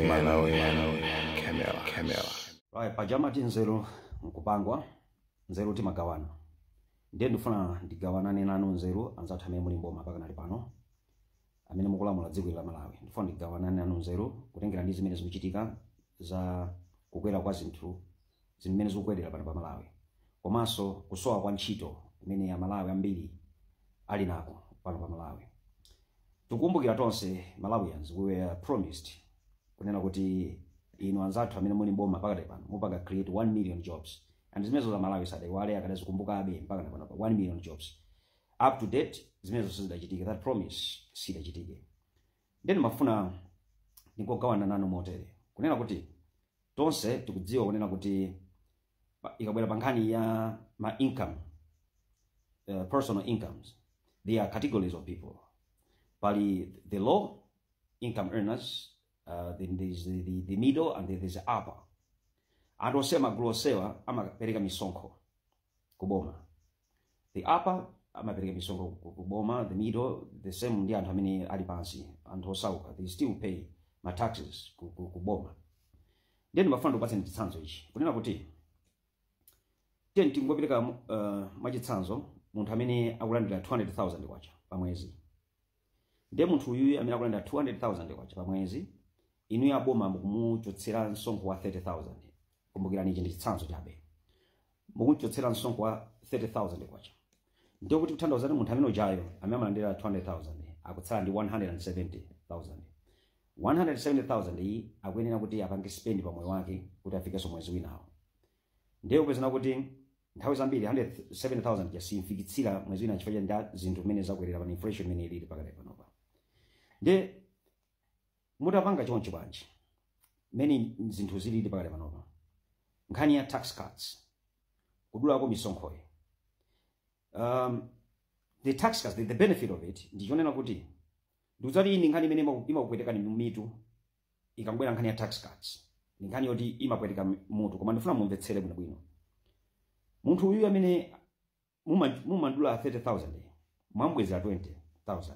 Malawian Camera. Right, paja amati nzeru nkupangwa nzeru timagawana ndiye ndifuna ndigawanane nanu nzeru anzathu amene muli mboma pakanali pano amene mukulamula dziko la malawi ndifuna ndigawanane nanu nzeru kutengera ndi zimene zikuchitika za kukwera kwa zinthu zinthu mmene zikukwelera pano pa Malawi komanso kusowa kwa ntchito imene a Malawi ambiri ali nako pano pa Malawi. Tikukumbukira tonse Malawians we were promised kunena kuti inu anzathu amene muli mboma pakadali pano mupanga create 1 million jobs and zimenezo a Malawi sadaiwale akadazikumbukabe mpakana pano pa 1 million jobs up to date zimenezo sizidachitike that promise sidachitike nde ndimafuna ndingogawana nanu motere kunena kuti Tonse tikudziwa kunena kuti pa- ikabwera pa nkhani ya ma income uh, personal incomes there are categories of people pali the low income earners uh, then there's the, the, the middle and then there's the upper anthu onsewa magulu onsewa amapereka misonkho kuboma the upper amapereka misonkho ku- ku boma the middle the same ndi anthu amene ali pansi anthu osauka they still pay ma taxes ku, ku, ku boma ndiye ndimafuna ndikupatseni chitsanzo ichi kunena kuti tiyeni tingopereka uh, mwachitsanzo munthu amene akulandira 200000 kwacha pa mwezi ndiye munthu uyuyu amene akulandira 200,000 kwacha pa mwezi inuyo aboma mukumuchotsera msonkho wa 30,000 kumbukirani ichi ndi chitsanzo chabe mukumchotsera msonkho wa 30,000 kwacha ndiye kuti kuthandauza kuti munthu amene ujayo amene amalandira 200,000 akutsala ndi 170,000 170,000 iyi akuyenera kuti apange spend pa moyo wake kuti afikenso mwezi winawo ndiye mupeza kuti kuti Nthawi zambiri 170,000 ija simfikitsa mwezi wina chifukwa cha zinthu mmene zakwerera pano inflation imene ilipo pakadali panopa. Nde mutapanga chonchi bwanji mmene zinthu zilili pakadali panopa nkhani ya tax cuts kudulako misonkhoyi um, the tax cuts the, the benefit of it ndi chonena kuti ndikudziwa kuti iyi ndi nkhani imene imaku- imakupwetekani mu mitu ikabwera nkhani ya tax cuts ndi nkhani yoti imapweteka mi- mutu koma ndifuna mumvetsere bwinobwino munthu uyu amene muma- mumadula 30000 mwambwezera 20000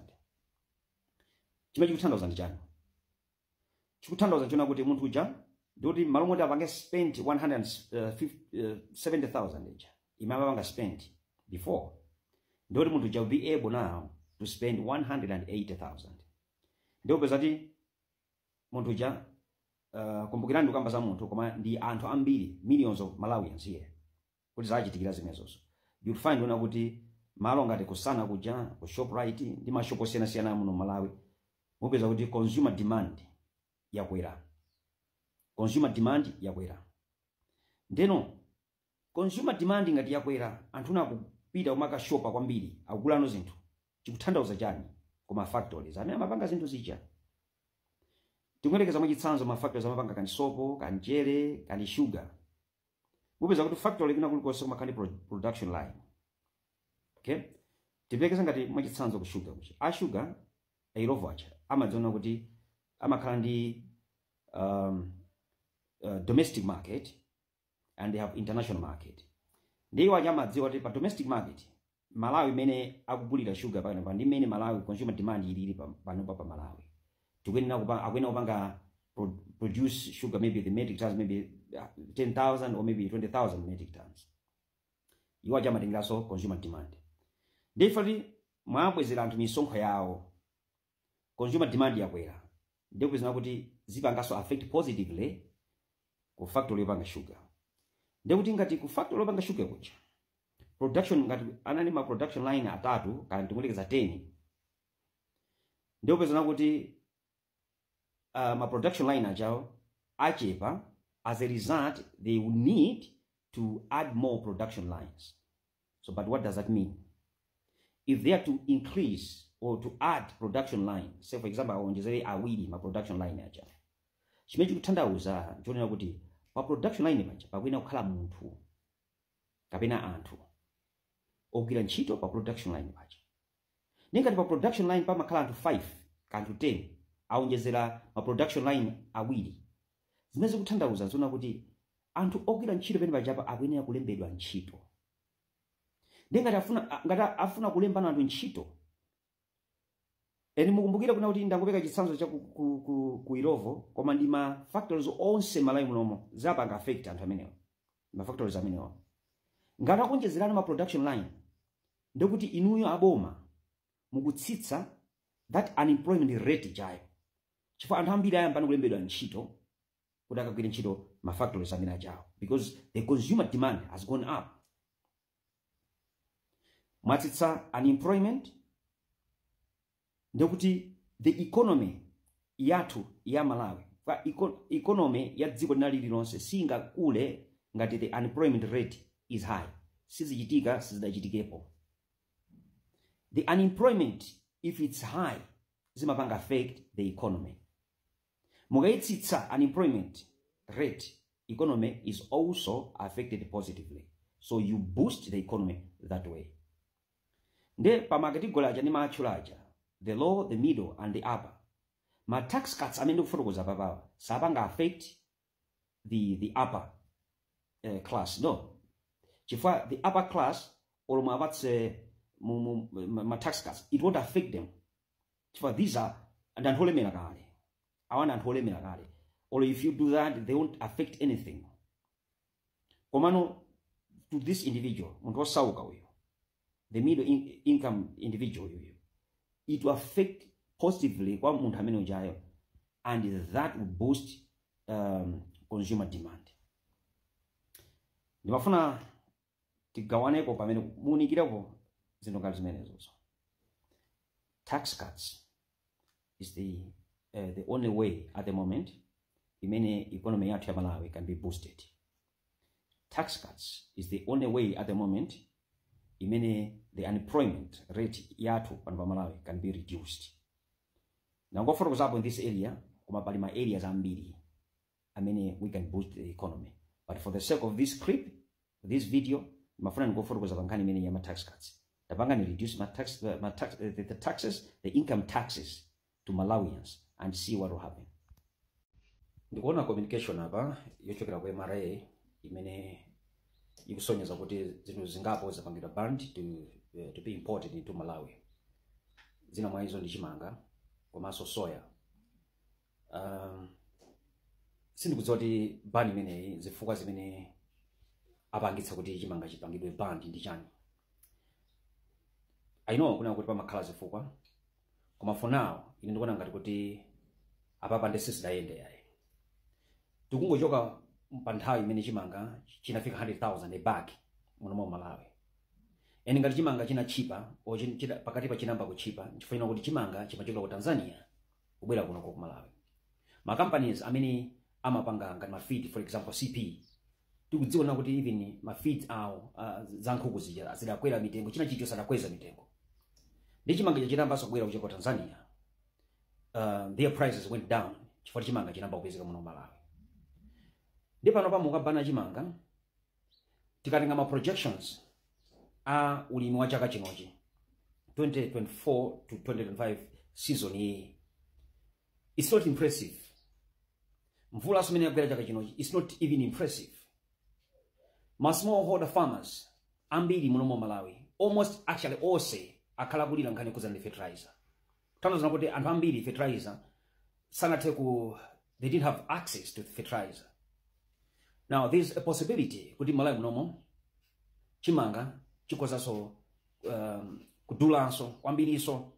chimene chikuthandauza ndi chani chikuthandauza chonena kuti munthu uja ndikuti mmalo moti apange spend 170000 ija imene amapanga spend before ndikuti munthu uja will be able now to spend 180000 ndiye mupeza kuti munthu uja uh, kumbukirani ndikukamba za munthu koma ndi anthu ambiri millions of malawians here kuti zachitikira zimenezozo you'll find kunena kuti malo ngati ku Sana kuja ku shoprite ndi mashopo osiyanasiyana amuno malawi mupeza kuti consumer demand yakwera consumer demand yakwera ndeno Consumer demand ngati yakwera anthuno akupita kumakashopa kwambiri akugulano zinthu chikuthandauza chani ku ma factories amene amapanga zinthu zija tingoyerekeza mwachitsanzo ma factories amapanga kani sopo kani mchere kani sugar mupeza kuti factory kuna kulikonse kumakhala ndi pro- production line okay tiyerekeze ngati mwachitsanzo ku sugar kuchi a sugar a Illovo aja amadziona kuti amakhala ndi um, uh, domestic market and they have international market ndiye iwo aja amadziwa kuti pa domestic market malawi imene akugulira sugar pano pa ndi imene malawi consumer demand ilili pa- panopa pa malawi tikuyenera kupa- akuyenera kupanga pro- produce sugar maybe the metric tons maybe uh, 10000 or maybe 20000 metric tons iwo aja amatengeranso consumer demand ndiye if mwabwezera anthu misonkho yawo consumer demand yakwera ndiye kupezano kuti zipangaso affect positively ku factory yopanga sugar ndiye kuti ngati ku factory yopanga sugar kuja production ngati anali ma production line atatu kana tingoyerekeza 10 ndiye kupezano kuti uh, ma production line ajawo achepa as a result they will need to add more production lines So, but what does that mean? If they are to increase or to add production line, say for example, awonjezere awiri ma production line aja. Chimene chikuthandauza nchonena kuti pa production line paja pakuyenera kukhala munthu kapena anthu ogwira ntchito pa production line paja. Ndiye ngati pa production line pamakhala anthu 5 kaya anthu 10 awonjezera ma production line awiri, zimene zikuthandauza nzonena kuti anthu ogwira ntchito pamene pajapa akuyenera kulembedwa ntchito. Ndiye ngati afuna ngati afuna kulembano anthu ntchito and mukumbukire kunena kuti ndangopereka chitsanzo cha ku, ku, ku, ku Illovo koma ndi ma factories onse Malawi munomo zapanga affect anthu amenewo. ma factories amenewa ngati akuonjezerano ma production line ndekuti inuyo aboma mukutsitsa that unemployment rate ijayo chifukwa anthu ambiri ayambano kulembedwa ntchito kuti akagwire ntchito ma factories amene ajawo because the consumer demand has gone up mwatsitsa unemployment ndiye kuti the economy yathu ya malawi kapena eco- economy ya dziko lina lililonse singakule ngati the unemployment rate is high sizichitika sizidachitikepo the unemployment if it's high zimapanga affect the economy Mukaitsitsa unemployment rate economy is also affected positively so you boost the economy that way. Nde pa ma category aja ndimaatchula aja the low, the middle and the upper ma tax cuts amene ndikufotokoza apapawa sapanga affect the, the upper uh, class no chifukwa the upper class olo muwapatse mu- mu- ma ma tax cuts it won't affect them chifukwa these are ndi anthu olemera kale awa ndi anthu olemera kale olo if you do that they won't affect anything komano to this individual munthu osauka uyu the middle income individual uyu it will affect positively kwa munthu amene ujayo and that will boost um, consumer demand ndimafuna tigawaneko pamene muunikirepo zinthu ngati zimenezozo tax cuts is the, uh, the only way at the moment imene economy yathu ya malawi can be boosted tax cuts is the only way at the moment imene the unemployment rate yathu pano pa malawi can be reduced nangofotokozapo in this area koma pali ma areas ambiri amene we can boost the economy but for the sake of this clip this video ndimafuna ndikufotokoza pa nkhani imene ya ma tax cuts tapangani reduce ma tax, ma tax, the, the taxes the income taxes to malawians and see what will happen ndikuona communication apa yochokera ku mra imene ikusonyeza kuti zinthu zingapo zapangidwa banned to, eh, to be imported into malawi zina mwa izo ndi chimanga komanso soya uh, sindikudziwa kuti ban imeneyi zifukwa zimene apangitsa kuti chimanga chipangidwe banned ndi chani i know kunena kuti pamakhala zifukwa koma for now ine ndikuona ngati kuti apapa nde sizidayende yayi tikungochoka pa nthawi imene chimanga chinafika 100,000 a bag muno mu malawi and ngati chimanga chinatchipa pakatipa chinayamba kutchipa nchifukwa kuti chimanga chimachokera ku tanzania kubwera kuno ku malawi ma companies amene amapanga ngati ma feed for example cp tikudziwa kuti even ma feed awo uh, za nkhuku zija zidakwera mitengo china chilichonse adakweza mitengo nde chimanga chitayamba kubwera kuchoka ku tanzania uh, their prices went down chifukwa chimanga chinayamba kupezeka muno malawi nde panopa mukabana chimanga tikatenga ma projections a ulimi wa chaka chinochi 2024 to 2025 season iyi it's not impressive mvulaso mmene yagwera chaka chinochi it's not even impressive ma smallholder farmers ambiri muno mu malawi almost actually onse akhala akulira nkhani yokhudzana ndi fertilizer taonanso kuti anthu ambiri fertilizer sanathe ku they didn't have access to fertilizer now there's a possibility kuti m'malawi munomo chimanga chikozanso um, kudulanso kwambirinso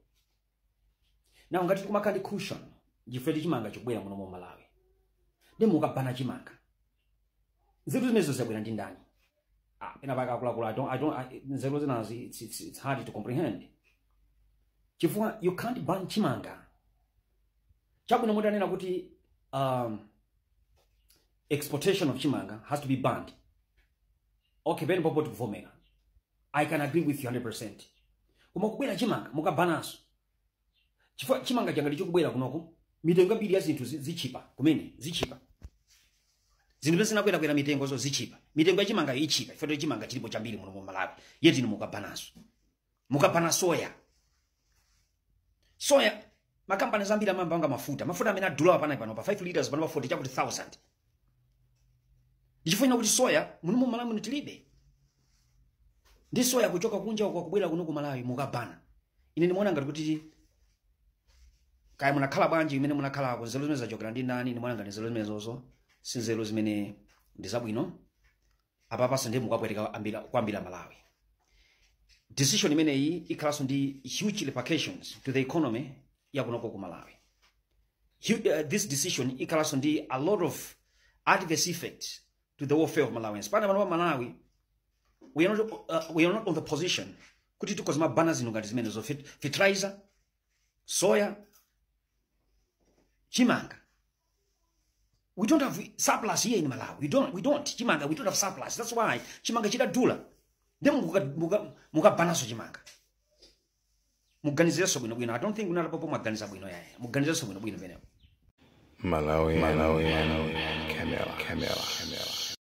now ngati tikumakhala ndi cushion chifukwa kuti chimanga chikubwera muno m'malawi ndiye mukabana chimanga nzeru zimenezo zabwera ndi ndani ah, pena pake akuluakulu I don't, I don't, I, nzeru zinazi it's, it's, it's hard to comprehend chifukwa you can't ban chimanga chabwino mukananena kuti um, exportation of chimanga has to be banned okay pamenepopo tikuvomera i can agree with you 100 percent koma kubwera chimanga mukabananso chifukwa chimanga chikanakhala chikubwera kunoko mitengo yambiri ya zinthu zi- zitchipa kumene zitchipa zinthu zimene zinakwerakwera mitengozo zitchipa mitengo ya chimanga itchipa chifukwa choti chimanga chilipo chambiri muno mu malawi yet inu mukabananso mukabana soya soya makampani ambiri amapanga mafuta mafuta amene adulawa panopa pano pa 5 liters pano pa 40 chakuti 1000 ndichifukwa kuti soya muno mu malawi muno tilibe ndi soya kuchoka kunjako kubwera kuno ku malawi mukabana ine ndimaona ngati kuti kaya munakhala bwanji imene munakhalako nzeru zimenezi zachokera ndi ndani ndimaona ngati nzeru zimenezozo si nzeru zimene ndi zabwino apapanso ndiye mukapweteka ambira- kwambiri amalawi decision imeneyi ikhalanso ndi huge repercussions to the economy yakunoko ku malawi Hu- uh, this decision ikhalanso ndi a lot of adverse effects to the welfare of Malawians. Pana pano pa Malawi, we are not, uh, we are not on the position kuti tikoze mabana zino ngati zimene zo fit- fertilizer, soya, chimanga. We don't have surplus here in Malawi. We don't, we don't. Chimanga, we don't have surplus. That's why chimanga chidadula. Then mukabanaso chimanga. muganizirenso bwino bwino i don't think apapa mwaganiza bwino iyayi muganizirenso bwino bwino pamenepo Malawi, Malawi, Malawi, Camera, Camera, Camera.